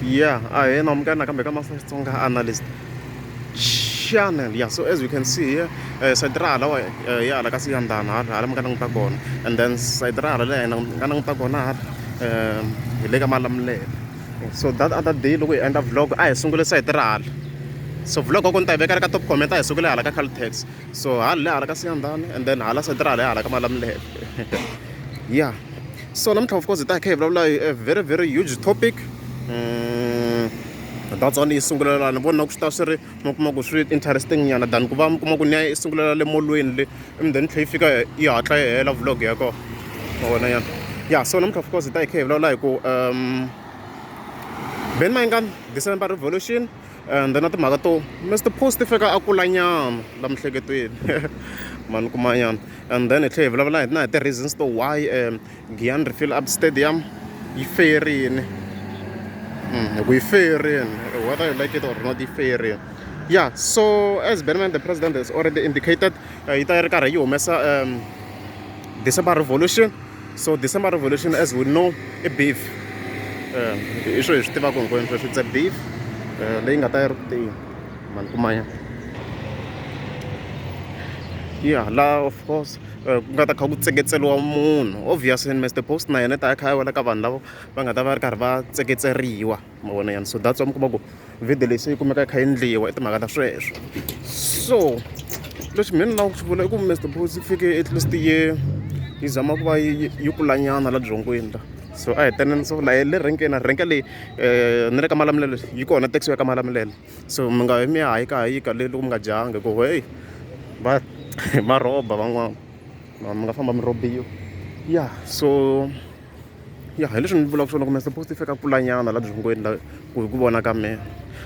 yeah a hi na mukana kambe ka master xitsonga analyst channel yeah so as you can see here uh, eh, side ra hala wa uh, ya hala ka siyandana hala hala mi nga languta kona and then side ra hala leyi nga languta kona hala eh, hi le ka malamulele so that other day loko hi endla vlog a hi sungule side ra hala so vlog ko ni ta yi veka ka top comment a hi sukile hala ka caltex so hala le hala ka siyandana and then hala side ra hala ya hala ka malamulele yeah so namuntlha of course hi ta hi kha hi vulavula hi a very very huge topic um that's one yi sungulela ni vona ku swi ta swi ri mi kuma ku swi interesting nyana than ku va mi kuma ku ni ya yi sungulela le molweni le and then tlhe yi fika yi hatla yi hela vlog ya kona ma vona yana ya so namuntlha of course hi ta hi kha hi vulavula hi ku um ben mayingani december revolution and then na timhaka to mr post fika a kulanyana la mihleketweni mani kumanyana and then hi tlhe hi vulavula na hi ti-reasons to why um giyan refill up stadium yi feyerini hmm, hi ku yi feyerini whether you like it or not yi feyerini ya so as benman the president has already indicated uh, yi ta yi ri karhi yi humesa um december revolution So December Revolution, as we know, i beef. Eh, hi swo hi swi tivaka hinkwenu sweswi it's a beef eh, leyi nga ta yi ri kutini mani kumanya ya laha of course eh, ku nga ta kha ku tseketseriwa munhu obviously mr post na yena ta ya kha ya wela ka vanhu lavo va nga ta va ri karhi va tseketseriwa ma vona yani so that's why mi kuma ku video leyi se yi kumeka yi kha yi endliwa i timhaka ta sweswo so lexi mina ni lava ku xi vula i ku mr bosi ku fike at least yi yi zama ku va yi yi kulanyana la byongweni la so a hi tenene so laye le renkeni renke leyi um ni le ka malamulelo yi kona taxi ya ka malamulelo so mi nga mi ya hayi ka hayika le loko mi nga dyanga ku heyi va va rhoba van'wana mi nga famba mi rhobiwa ya so ya hi leswi ni vulaka swona ku mi supposed fika kulanyana laha byongweni la ku hi ku vona ka mina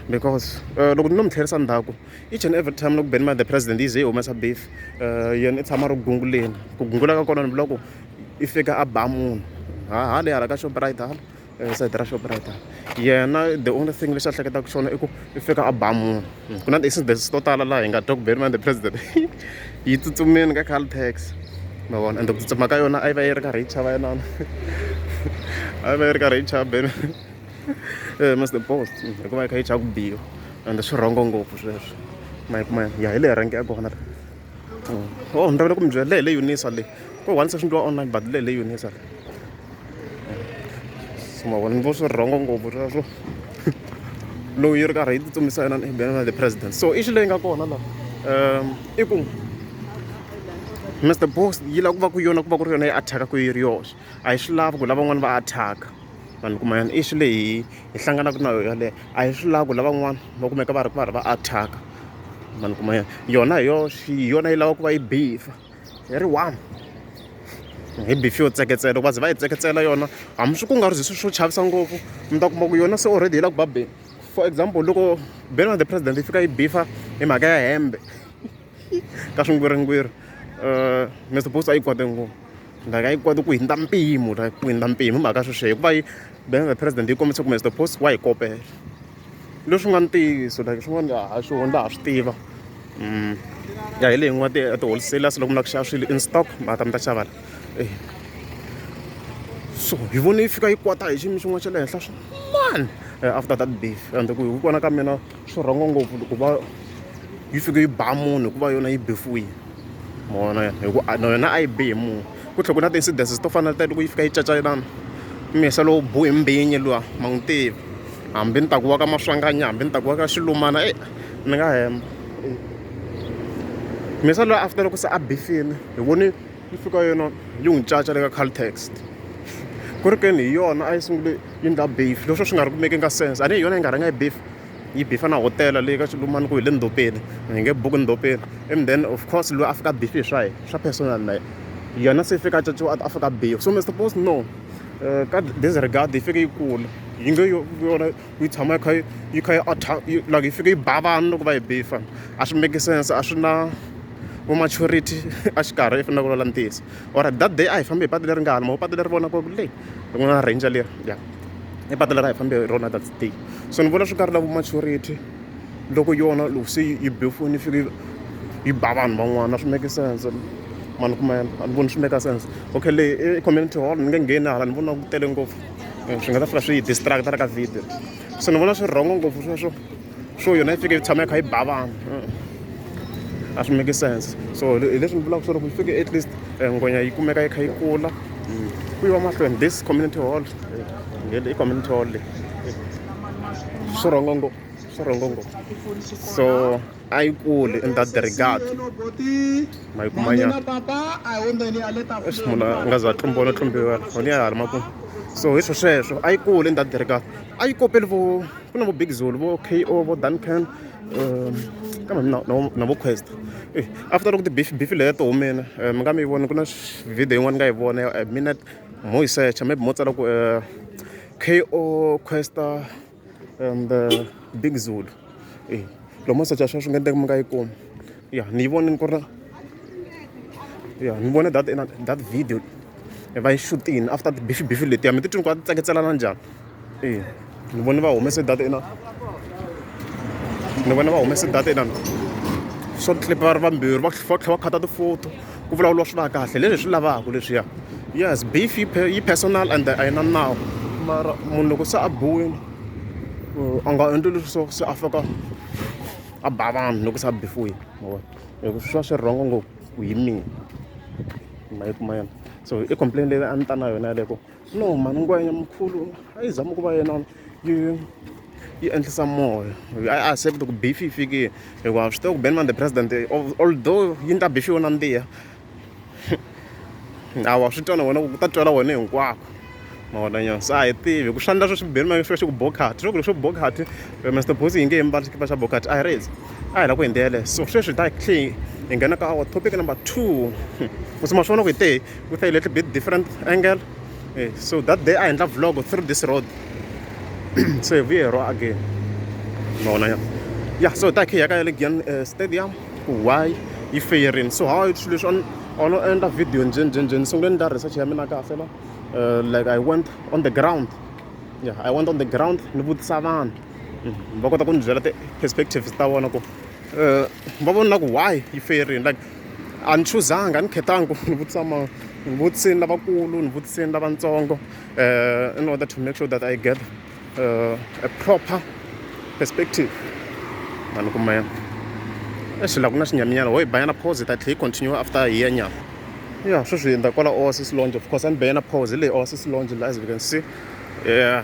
because eh, loko ni no mi tlherisa ndhaku each and every time loko benima the president yi ze yi humesa beef um yena i tshama ri gunguleni ku gungula ka kona ni vula ku i fika a ba munhu haha le hala ka shoprite hala eh, sayiti ra shoprite hala yena the only thing lexi a hleketaka xona i ku i fika a ba munhu hmm. ku na ti-accidents to tala laha hi nga twa ku beriman the president yi tsutsumeni ka caltex ma vona ende ku tsutsuma ka yona a yi va yi ri karhi yi chava yinana a yi va yi ri karhi yi chava ben eh, must the post hmm, hikuva yi kha yi chava ku biwa ende swi rhongo ngopfu sweswo ma yi kuma ya hi leyi rhangi ya kona oh ni ravele ku mi byela leyi le unisa leyi ko one session twa online but leyi le unisa leyi so mavona ni vo swi rhongo ngopfu sweswo lowu yi ri karhi yi titsumisa yona na the president so i xi leyi nga kona laha um i ku mr boss yi lava ku va ku yona ku va ku ri yona yi attack-a ku yi ri yoxe a yi swi lavi ku lavan'wana va attack-a vanhu kuma yona i xi leyi hi hlanganaka na yona yaleyo a hi swi lavi ku lavan'wana va kumeka va ri va ri va attack-a ma ni kuma yona hi yoxe hi yona yi lava ku va yi bifa hi ri one hi bifi yo tseketsela loko va ze va yi tseketsela yona hambi swi ku nga ri swi swo chavisa ngopfu mi ta kuma ku yona se already yi la ku babeni for example loko beni wa the president yi fika yi bifa hi mhaka ya hembe ka swingwirhingwirhi Mister Boots a yi kwate ngopfu like a yi kwate ku hindza mpimo like ku hindza mpimo hi mhaka sweswiya hikuva yi bank the president yi kombisa ku Mister Boots wa yi kopela leswi nga ntiyiso like swin'wana a ha swihoni laha swi tiva mm. ya hi leyi n'wa ti-wholesalers loko mi lava ku xava swilo in stock ma ta mi ta xava la eh. so hi vone yi fika yi kwata hi xiyimo xin'wana xa le henhla swin'wana eh, after that beef and ku hi ku vona ka mina swi rhongo ngopfu ku va yi fike yi ba munhu hikuva yona yi befuwile mona hi ku na yona a yi bi hi munhu ku tlhela ku na ti-incidences to fana na loko yi fika yi cacacelana mihisa lowu bu hi mbinyi luwa ma n'wi tivi hambi ni ta ku wa ka maswanganya hambi ni ta ku wa ka xilumana e ni nga hemba mihisa luwa after loko se a bifile hi voni yi fika yona yi n'wi caca le ka caltext ku ri keni hi yona a yi sungule yi ndla beef leswo swi nga ri kumeki nga sense a ni hi yona yi nga rhanga yi beef yi bifa na hotela leyi ka xilumani ku hi le ndhopeni hi nge buku ndhopeni and then of course loyi a fika bifi hi swa hi swa personal na yena se fika caciwa a fika bifa so mr post no uh, ka disregard yi fike yi kula yi nge yona yi tshama yi kha yi yi kha yi yi like yi fike yi ba vanhu loko va yi bifa a swi make sense a swi na vo maturity exikarhi yi fanele ku lwela ntiyiso or that day a hi fambi hi patu leri nga hala maho patu leri vona ku le ri na ranger leri ya i patu leri a hi fambi hi rona that day so ni vona swi nga ri lavo maturity loko yona loko se yi befoni yi fike yi ba vanhu van'wana swi make sense mani kuma a ni voni swi make sense okay leyi i community hall ni nge ngheni hala ni vona ku tele ngopfu eh, swi nga ta fika swi yi distracta ri ka video so ni vona swi rhongo ngopfu sweswo swo yona yi fike yi tshama yi kha yi ba vanhu eh. a swi make sense so hi leswi ni vulaka swo loko yi fike at least eh, ngwenya yi kumeka yi kha yi kula mm. ku yiwa mahlweni this community hall i community hall leyi swi rhongo ngopfu swi rhongo ngopfu so a yi kuli in that regard ma yi kuma nyana leswi munhu a nga za tlumbiwa no tlumbiwa honi ya ha ri makumu so hi swo sweswo a yi kuli in that regard a yi kopeli vo ku na vo big zulu vo k o vo duncan um kambe na- na- na vo quest Eh, after loko tibifi bifi leyi ya to humile eh, mi nga mi yi voni ku na sh- video yin'wana ni nga yi vona ya minute mo yi secha maybe mo tsala ku eh, ko questa and uh, big zulu e lomu masocha ya swa swi nga endleka mi nga yi kumi ya ni yi vonini ku ri ya ni vone that that video e va yi shutini after tibifi bifi letiya mi titwini ku va ti tsaketselana njhani e ni vone va humese data ina ni vone va humese data inana short clip va ri vambirhi va tlhela va khata tifoto ku vulavuriwa swi va kahle leswi swi lavaka leswiya yes beef yi personal and a yi na nawu mara munhu loko se a biwile a nga endli leswi swa se a fika a ba vanhu loko se a bifuwile mavona loko swi va swi rhongo ngopfu ku hi mina ma yi kuma yena so i complain leyi a ni ta na yona yaleko no mani ngwenya mkhulu a yi zama ku va yena yi yi endlisa moya a a accept ku beef yi fikile hikuva swi tiva ku benman the president although yi ni ta beef yona mbiya a wa swi twa na wena ku ta twela wena hinkwako ma vona nyana se a hi tivi ku swandla sweswi benman swi va xi ku bokhati swo ku leswo bokhati mr bosi hi nge hi mbali xikipa xa bokhati a hi rezi a hi lava ku hi ndlela so sweswi hi ta clean hi nghena ka our topic number two ku tsima swi vona ku hi te ku ta hi little bit different angle e so that day a endla vlog through this road se hi vuye ro again ma vona ya ya so hi ta khe hi ya ka ya le giyan eh, stadium ku why yi feyerini so how swilo leswi on ono endla video njheni njheni njheni sungule ni ta research ya mina kahle la eh, like i went on the ground yeah i went on the ground ni vutisa vanhu Mhm. va kota ku ni byela ti-perspectives ta vona ku um va vona ku why yi feyerini like a ni chuzanga a ni khetanga ku ni vutisa mani ni vutiseni lavakulu ni vutiseni lavatsongo um in order to make sure that i get uh, a proper perspective ma ni kumela exi laha ku na xinyaminyana ho yi banyana pause ta tlhe yi continue after hi ya nyama ya sweswi hi ndza kwala oasis longe of course a ni beyana pause hi leyi oasis longe la as we can see yeah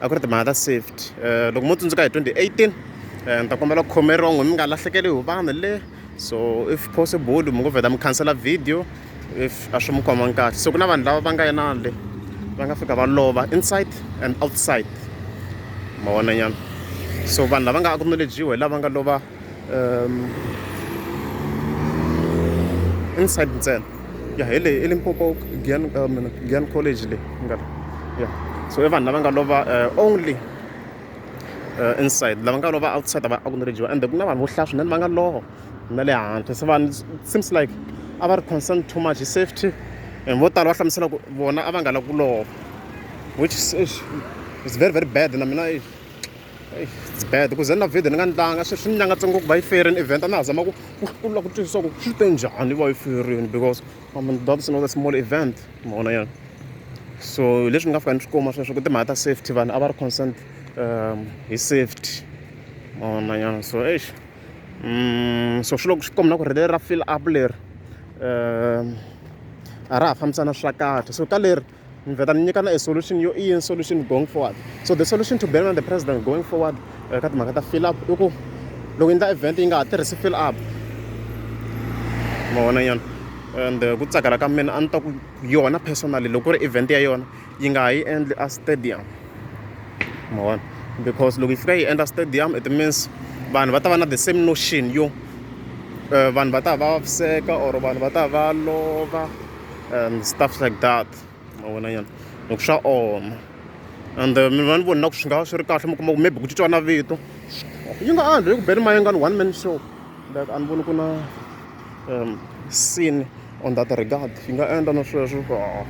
a ku ri timhaka ta safety um loko mo tsundzuka hi 2018 um ni ta kombela ku khomeriwa n'wi mi nga lahlekeli hi vanhu le so if possible mi ngo vheta mi khansela video if a swi mi khomangi kahle so ku na vanhu lava va nga yena le va nga fika va lova inside and outside ma vonanyana so vanhu lava nga acknowledgiwa hi lava nga lova inside ntsena ya hi leyi elimpopo gian um, gian college leyi nga ya so i vanhu lava nga lova eh, only eh, inside lava nga lova outside va acknowledgiwa and ku na vanhu vo hlaya swinene va nga lova na le handle se vanhu seems like a va ri concern too much hi safety and vo tala va hlamusela ku vona a va nga lavi ku lova which is, is very very bad na mina it's bad ku ze na video ni nga ni tlanga swi swi ni nyangatse ngopfu va yi ferini event a na ha zama ku ku lava ku twisisa ku swi te njhani va yi ferini because i mean that is not a small event mona yena so leswi ni nga fika ni swi kuma sweswo ku timhaka ta safety vanhu a va ri consent um hi safety mona yena so eish um so swi loko swi komba na ku ri leri ra fill up leri um a ra ha fambisana swa kahle so ka leri ni vheta ni nyikana a solution yo i yini solution going forward so the solution to banana the president going forward eh, ka timhaka ta fill up i ku loko endla event yi nga ha tirhisi fill up ma vona nyana and eh, ku tsakela ka mina a ni ta ku yona personally loko ku ri event ya yona yi nga ha yi endli a stadium ma vona because loko yi fika yi endla stadium it means vanhu va ta va na the same notion yo eh, vanhu va ta va vaviseka or vanhu va ta va lova and stuff like that ma vona nyana loko swa oma and eh, mi va ni voni na ku swi nga swi ri kahle mi kuma ku maybe ku titwa na vito yi nga andli hi ku beni mayengani one man show like a ni voni ku na um scene on that regard yi nga endla na sweswo ah,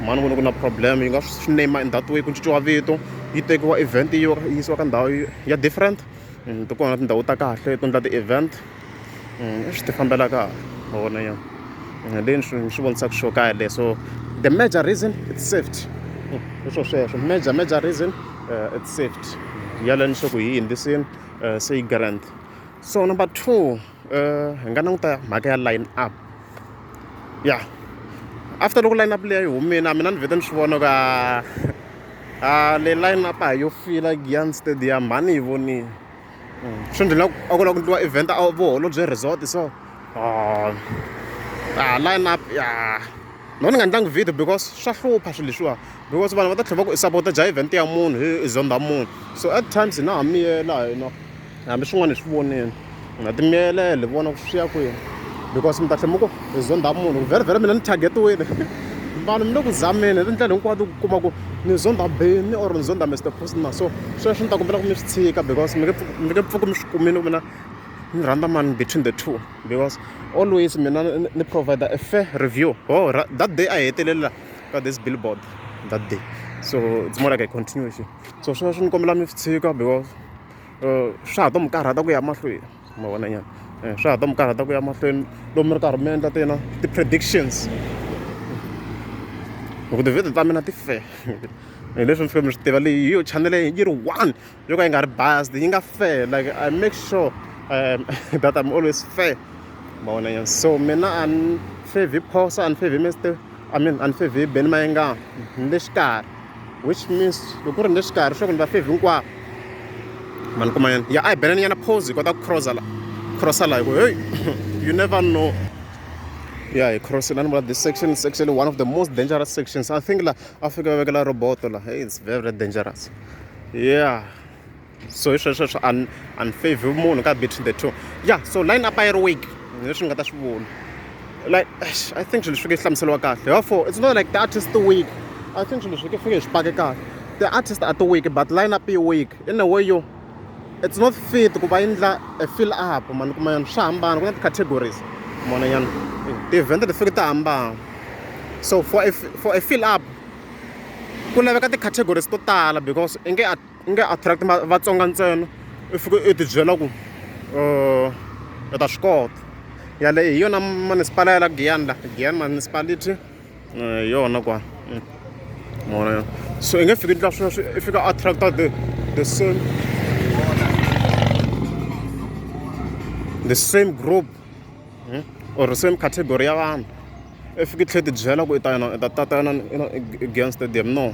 mani voni ku na problem yi nga swi name in that way ku cinciwa vito yi tekiwa event yi yisiwa ka ndhawu ya different mm, ti kona tindhawu ta kahle to endla ti-event swi ti fambelaka wona ya ni swi vonisaka xo kaya le so the major reason it's safety hi swo sweswo major major reason it's safety yala ni swa ku hi yingisini se yi grand so number two hi nga languta mhaka ya line up ya after loko line up leyi yi humile a mina ni vhete ni swi vona ka a le line up a yo fila giyan stadium a ni yi vonile swi endla ingaku a ku lava ku endliwa event a voholobye resort so a line up ya no ni nga endlangi video because swa hlupha swilo leswiwa because vanhu va ta tlhela va ku i sapota dya event ya munhu hi i zonda munhu so at times hi na ha miyela hina hambi swin'wana hi swi vonile na timiyelele vona ku swi ya kwini because mi ta tlhela mi ku hi zonda munhu ku vherevhere mina ni targetiwile vanhu mi le ku zameni hi tindlela hinkwato ku kuma ku ni zonda beni or ni zonda mr posna so sweswo ni ta kombela ku mi swi tshika because mi nge pfuki mi swi kumile ku mina ni rhandza mani between the two because always mina ni provider a fair review oh that day a hi hetelela ka this billboard that day so it's more like a continuation so sweswo ni kombela mi swi tshika because uh, swa ha to mi karhata ku ya mahlweni ma vona nyana eh, swa ha ta mi karhata ku ya mahlweni loko mi ri karhi mi endla ti na ti-predictions hi ku tivhidiyo ta mina ti fe hi leswi mi fike mi swi tiva leyi hi yo chanele yi ri one yo ka yi nga ri based yi nga fe like i make sure um, that i'm always fair ma vona nyana so mina a ni favhi phosa a ni favhi mistake I mean a ni fevhi hi Benny Mayengani ni le xikarhi which means loko ku ri ni le xikarhi swa ku ni va fevhi hinkwavo ma ni kuma yena ya a hi bela ni nyana pose hi kota ku crossa la crossa la hi ku hey you never know ya hi crossing a ni vula this section is actually one of the most dangerous sections i think la a fika va vekela roboto la hey it's very dangerous yeah so hi sweswo swi un unfavor munhu ka between the two ya so line up yi ri weak leswi ni nga ta swi vula like i think swilo swi fike hlamuseriwa kahle therefore it's not like the artist weak i think swilo swi fike swi pake kahle the artist are the weak but line up yi weak in a way yo it's not fit ku va endla a fill up mani kuma yona swa hambana ku na ti-categories mona yana ti-event ti fike ti hambana so for a, for a fill up ku laveka ti-categories to tala because i nge u nge attract Vatsonga ntsena, u fika u ti byela ku u ta swi kota. Yaleyo hi yona masipala ya laha Giyani laha, Giyani Municipality hi yona kwala. Ma vona ke? So i nge fiki u endla sweswo i fika u attract-a the the same the same group or same category ya vanhu. I fika i tlhela i ti byela ku u ta u ta ta Giyani stadium no.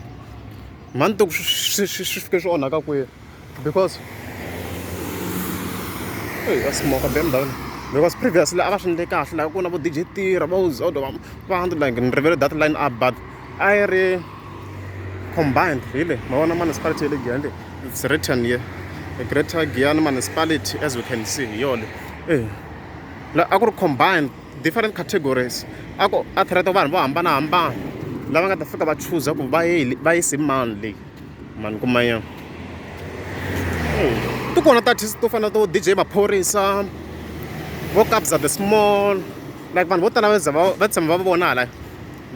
mhani ni tiku swi swi swi swi fike swi onhaka kwini because eyi a smoke be ndhawini because previously a va swi endle kahle laha ku na vo D_J Tira vo Zodwa va va hundred like ni rivele that line up but a yi ri combined hi le ma vona municipality ya le Giyani le it's written here the greater Giyani municipality as we can see hi yona le eya la a ku ri combined. different categories a ku a threat-a vanhu vo hambanahambana lava nga ta fika va chuza ku va yi va yise mani leyi mani kuma yena ti kona tatist to fana to dj maphorisa vo kabza the small like vanhu vo tala va za va va tshama va vona hala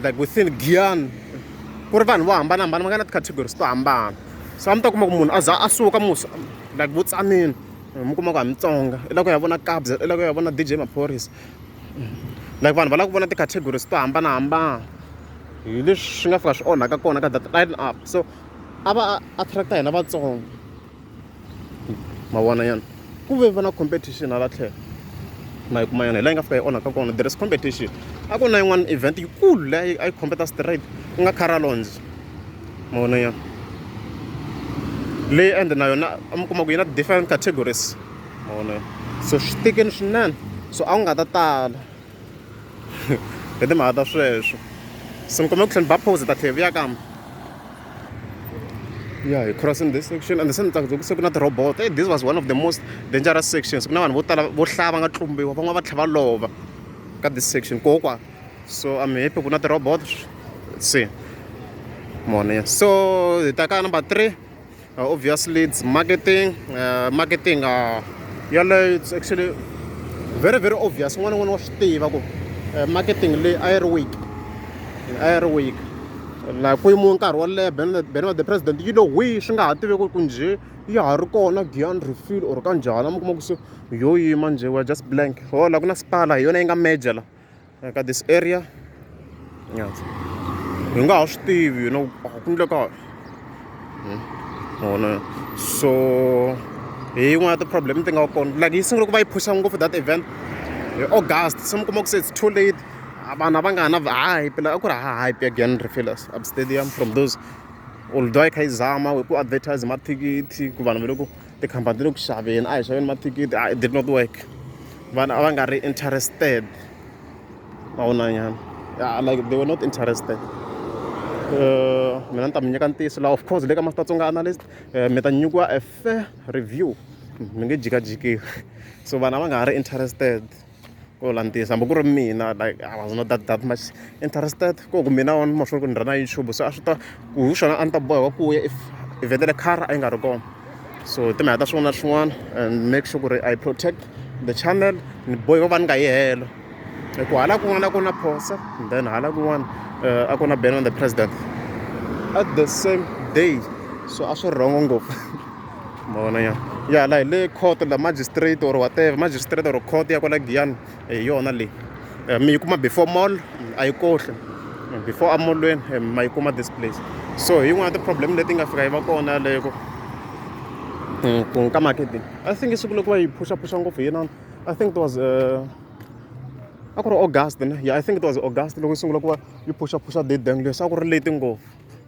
like within giyani ku ri vanhu vo hambanahambana va nga na ti-categories to hambana so a mi ta kuma ku munhu a za a suka musa like vo tsanile mi kuma ku a mi tsonga i lava ku ya vona kabza i lava ku ya vona D_J maphorisa like vanhu va lava ku vona ti-categories to hambanahambana hi leswi swi nga fika swi onhaka kona ka that line up so a va attract-a hina vatsonga mavona yana ku ve va na competition hala tlhelo ma yi kuma yona hi laha yi nga fika yi onhaka kona there is competition a ku na yin'wana event yikulu leyi a yi competa straight ku nga caralons mavona ya leyi ende na yona a mi kuma ku yi na different categories mavona ya so swi tikini swinene so a wu nga ta tala hi timhaka ta sweswo so ni kumbe ku tlhela ni ba pose ta tlhela vuya kambe ya hi crossing this section and se ni tsakisa ku se ku na ti-robot hey, this was one of the most dangerous sections ku na vanhu vo tala vo hlaya va nga tlumbiwa van'wana va tlhela va lova ka this section kokwa so I'm happy ku na ti-robot se mone so hi ta ka number three uh, obviously it's marketing uh, marketing uh, yaleyo it's actually very very obvious un'wana n'wana wa swi tiva ku uh, marketing leyi a yi ri week a yi ri week la ku yimiwe nkarhi wo leha bene wa the president yi lo hwi swi nga ha tivi ku ku njhe ya ha ri kona gian refill or ka njhani mi kuma ku se yo yima njhe wa just blank ho la ku na spala hi yona yi nga major la like at this area yes hi nga ha swi tivi na ku endleka vona hmm. so hi yin'wana ya ti-problem ti nga kona like yi sungule ku va yi phusha ngopfu that event hi august se mi kuma ku se it's too late vanhu a va nga ha na hype la a ku ri ha hype again refillers up stadium from those although yi kha yi zama hi ku advertise mathikithi ku vanhu va le ku tikhampani ti le ku xaveni a hi xaveni mathikithi a it did not work vanhu a va nga ri interested va vonanyana like they were not interested eh, mina ni ta mi nyika ntiyiso laha of course le ka mafitatsonga analyst eh, mi ta nyikiwa a fair review mi nge jikajikiwi so vanhu a va nga ha ri interested ku vula ntiyiso hambi ku ri mina like i was not that that much interested ku ku mina on mahlweni ku ni rhandza youtube so a swi ta ku hi swona a ni ta boheka ku ya if evhele car a yi nga ri kona so hi timhaka ta swin'wana na swin'wana and make sure ku ri i protect the channel ni boheka ku va ni nga yi helo hi ku hala kun'wana ku na phosa then hala kun'wana eh, a ku na ben on the president at the same day so a swi rhongo ngopfu ma vona ya ya la hi le court la magistrate or whatever magistrate or court ya kwala giyani hi yona leyi eh, mi yi kuma before mall a yi kohle eh, before amolweni eh, ma yi kuma this place so hi yin'wana ti-problem leti nga fika yi va kona yaleyo ku hmm, ku nka marketing i think siku loko va yi phushaphusha ngopfu hi yinani i think it was uh, a ku ri august ne ya i think it was august loko yi sungula ku va yi phushaphusha date dang leswi a ku ri leti ngopfu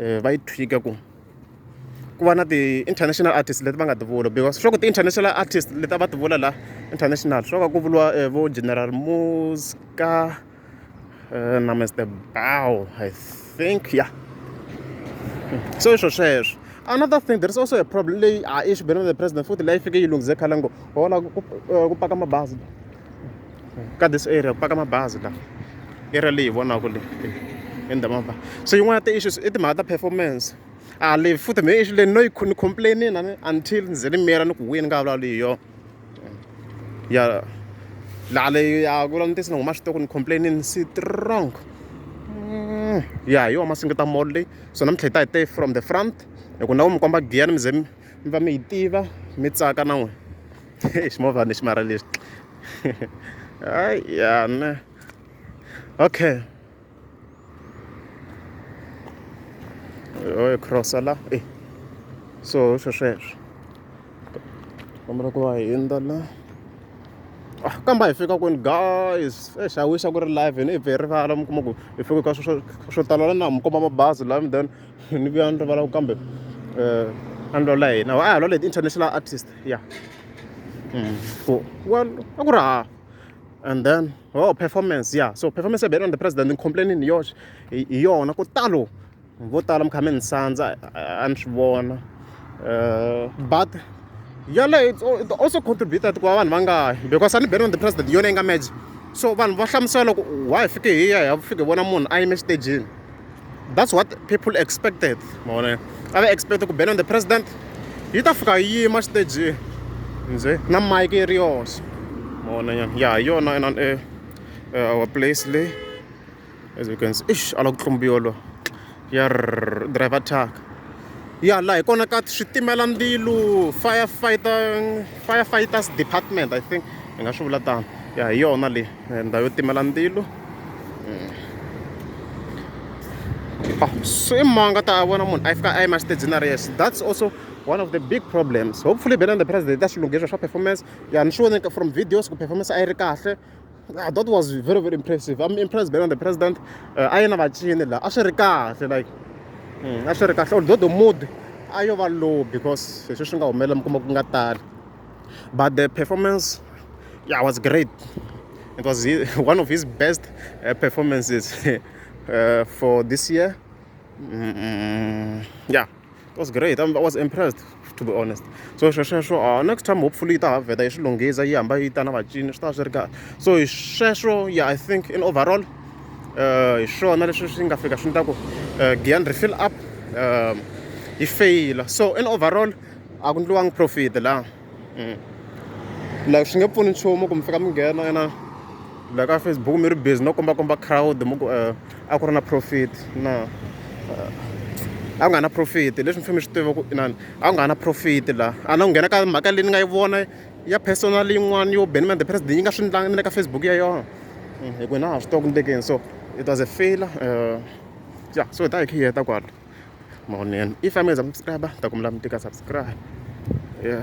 um va yi tweak-a ku ku va na ti-international artist leti va nga ti vula because swa ku ti-international artist leti a va ti vula laha international swo ka ku vuriwa um vo general muska um na mister bow i think ya so i swo sweswo another thing there is also a problem leyi a i xibelana the president futhi leyi fike yi lunghize khale ngo hola ku paka mabazi ka this area ku paka mabazi la area leyi hi vonaka leyi eh, endha mabazi so yin'wana ya ti-issues i timhaka ta performance a ah, leyi futhi me issue leyi no yi ni complainini ani until ni ze ni miyela ni ku wini nga vulavuli hi yona ya laha leyi ya ku vula ni tisi ni huma switoko ni complainini strong mm, ya hi yona masingita mall leyi so namintlha hi ta hi te from the front hi ku na ku mi komba giya ni mi ze mi va mi yi tiva mi tsaka na n'wina ximovha ni xi mara lexi hayi ya ne okay oe crossa la e so swo sweswo kombela ku va hindza la ah, kamba hi fika kwini guys exi a wixa ku ri live ni hi bye rivala mi kuma ku hi fike ka swo tala la na mi komba mabazi lami then ni vuya ni rivala ku kambe um a ni lwala hina a hi lwala hi ti-international artist ya mm. ku well a ku ri ha and then oh performance ya yeah. so performance ya beyond the president ni complaining hi yoxe hi yona ku talo vo tala mi kha mi ni sandza a ni swi vona eh, but yaleyo it also contributed ku va vanhu va nga hi because a ni beyond the president yona yi nga match so vanhu va hlamusela loko why fike hi ya hi ya fike vona munhu a yime exitejini that's what people expected ma vona a va expect ku bela on the president yi ta fika yi yima xiteji nje na mike yi ri yoxe ma vona nyana ya hi yona ena eh, eh, our place le as you can see ish ala ku tlumbiwa lo ya driver truck ya laha hi kona ka switimela ndzilu firefighter firefighters department i think hi nga swi vula tano ya hi yona leyi eh, ndhawu yo timela ndzilu se ma nga ta vona munhu a fika a yima xitejini a ri yexe that's also one of the big problems hopefully bena the president ta swi lunghisa swa performance ya ni swi voneke from videos ku performance a yi ri kahle ah, that was very very impressive i'm impressed bena the president uh, a yena vacini laha a swi ri kahle like hmm, a swi ri kahle although the mood a yo va low because hi sweswi nga humelela mi kuma ku nga tali but the performance yeah was great it was one of his best uh, performances uh, for this year mm -mm. yeah it was great i was impressed to be honest so swesweswo uh, next time hopefully yi ta ha vheta yi swi lunghisa yi hamba yi ta na vacini swi ta swi ri kahle so hi sweswo yeah i think in overall uh, hi swona leswi swi nga fika swi ni ta ku uh, gian refill up um, yi feyila so in overall a ku ndliwangi profit la mm. like swi nge pfuni nchumu ku mi fika mi nghena ena la ka facebook mi ri busy no kombakomba crowd mi ku eh, a ku ri na profit na eh, a ku nga na profit leswi mi fike mi swi tiva ku inani a ku nga na profit la a na ku nghena ka mhaka leyi ni nga yi vona ya personal yin'wana yo benman the president yi nga swi ndlangi ni le ka facebook ya yona mm, hi ku na ha swi tiva ku ni tekeni so it was a failure uh, eh, yeah so hi ta hi khe hi heta kwalo mavonelo if a mi nga se za mi subscribe ni ta kombela mi tika subscribe ya.